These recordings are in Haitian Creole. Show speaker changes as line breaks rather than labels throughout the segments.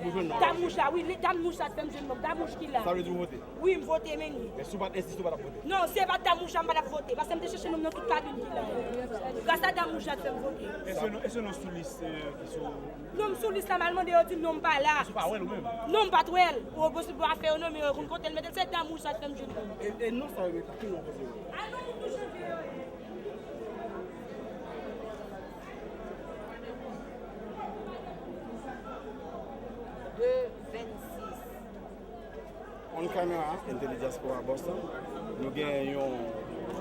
Dam mouch la wi dam mouch la t fèm jwenn nonm dam mouch ki la wi m
vote men
li
non si e pat dam mouch
la m patap vote paske m te chèche nonm nan tout kabin ki la yo gras a dam mouch la t fèm
vote non m sou lis la m al
mande yo di m non m pa la non m
pat wèl
oh bon se pou afè yo non men yo konn kote l mete l se dam mouch la t fèm jwenn
nonm. On camera in Tele Diaspora Boston. Nou gen yon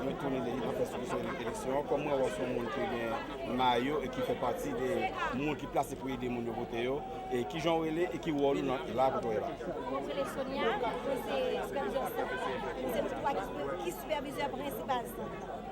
yon toune de yon fè solisyon yon eleksyon. Kòm mwen wò son moun ki gen mayo e ki fè pati de moun ki plase pou ede moun yo vote yo. E ki jan ou rele e ki wòl ou nan la kote ou ye la? Mwen rele Sonia, mwen se
sipèvizè sant lan. Mwen se moun ki sipèvizè prensipal sant lan.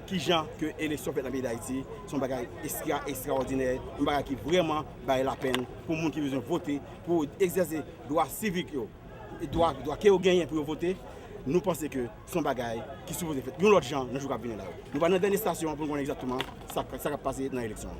Ki jan ke eleksyon fèt nan peyi Dayiti, se yon bagay estra estraòdinè, yon bagay ki vrèman bay lapenn pou moun ki bezwen vote, pou egzèse dwa sivik yo, dwa ke yo genyen pou yo vote, nou panse ke se yon bagay ki sipoze fèt yon lòt jan nan jou kap vini la yo. Nou pral nan dènye estasyon an pou nou konnen egzakteman sa kap pase nan eleksyon an.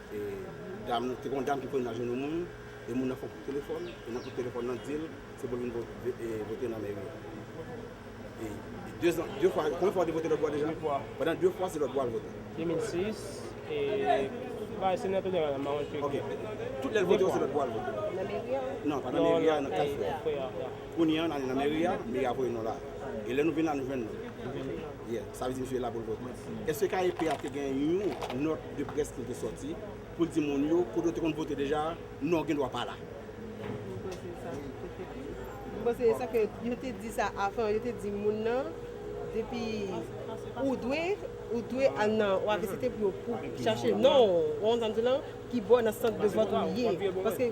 E dam nan, te gen yon dam ki konnen nan jounn yon moun, e moun nan fè yon kout telefòn, e nan kout telefòn nan di l, se pou l vin vote nan mèri a. E de zan, de fwa, konbyen fwa ou te vote lòtbò a deja? De fwa. Pandan de fwa, se lòtbò a l vote. 2006,
e, bay Senato de Rana, Maron Cheke. Ok.
Tout lè l vote yo, se lòtbò a l vote. Nan mèri a? Non, pa nan mèri a, nan Kaj Frè a. Kounye an, n ale nan mèri a, mèri a voye nou la. E lè nou vin la, nou jwenn li. Li vin la. Yeah. Sa vle di misye la pou l vote. Èske KEP a te gen yon nòt? de près pou l te sòti pou l di moun yo kote yo te konn vote deja a non gen dwa pa la. M panse
sa te fèt wi. M panse sa ke yo te di sa avan yo te di moun nan depi ou dwe ou dwe al nan ou ave se te pou yo pou chache non ou wè sa m di w lan ki bò nan sant de vòt ou ye paske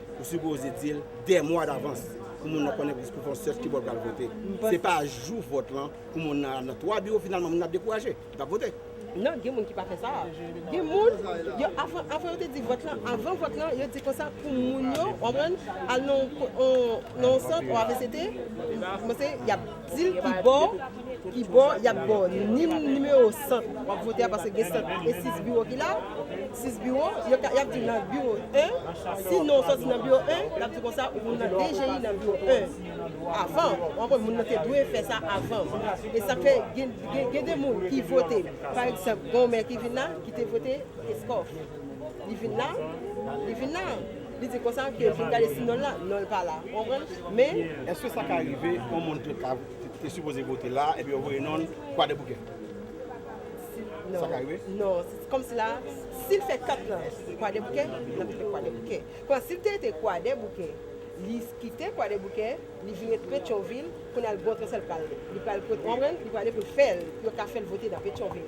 Ou sipoze di l 2 mwa davans pou moun nan konnen pou l fon sèch ki bò l pral vote. Se pa jou vòt lan pou moun nan al nan 3 biwo finalman moun nan ap dekouraje, li pap vote. Non, gen moun ki pa
fè sa a. Gen moun, yo avan yo te di vòt lan, avan vòt lan yo di konsa pou moun yo, w konprann, al nan yon sant, yon avct, komanse y ap. Dil ki bò ki bò yap baw ni nimewo sant wap vote a paske gen sant e 6 biwo ki la 6 biwo yo ka yap diw nan biwo 1 si non soti nan biwo 1 lap di konsa ou nan DGI nan biwo 1 avan ou konprann moun nan te dwe fè sa avan e sak fè gen de moun ki vote pa egzanp gonw mè ki vin la ki te vote eskòf li vin la li vin la. Li di konsa ke fin gade si non l la, non l pa la. Ou konprann? Men. Eske sa ka rive
yon moun te ka te sipoze vote la epi yo voye non l Kwadèboukè? Sa ka rive? Non. Kòm si la,
si l fè kat lan Kwadèboukè, l ap rete Kwadèboukè. Kon sa si l te rete Kwadèboukè, li kite Kwadèboukè, li vin rete Petyonvil, kounye a l gen yon transfè l pral li pral ou konprann? Li prale pou l fè l pou yo ka fè l vote nan Petyonvil.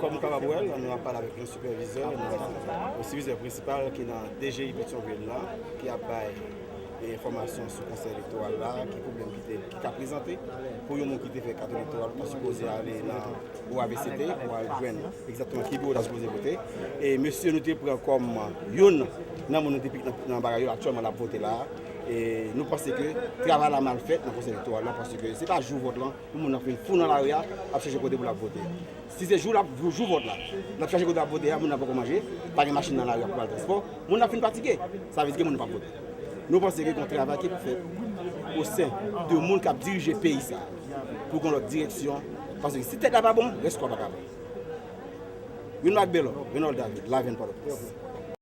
Kòm nou kapab wè l, nou ap pale avèk yon sipèvizè nan, yon sipèvizè prensipal ki nan DGI Petyonvil la, ki ap bay yon enfòmasyon sou konsèy elektoral la, ki pwoblèm ki te, ki ka prezante pou yon moun ki te fè kat elektoral pou ta sipoze ale nan Biwo avct pou al jwenn egzatteman ki biwo ta sipoze vote. E mesye nou te pran kòm youn nan moun nou te pik nan bagay yo aktyèlman l ap vote la a. E nou panse ke travay la mal fèt nan konsèy elektoral la paske se pa jou vòt lan. Pou moun ap vin fou nan lari a, ap chèche kote pou l ap vote. Si se jou lap jou vòt la, l ap chèche kote ap vote a, moun nan poko manje, pa gen machin nan lari a pou pral transpò, moun ap fin fatige. Sa vle di gen moun ki pap vote. Nou panse ke gon travay ki pou fèt osen de moun kap dirije peyi sa a pou gon lòt direksyon paske si tèt la pa bon, rès kò a pa ka bon. Yon lòt ak Bèlò, Renold David, Lavèn, Pòtoprens.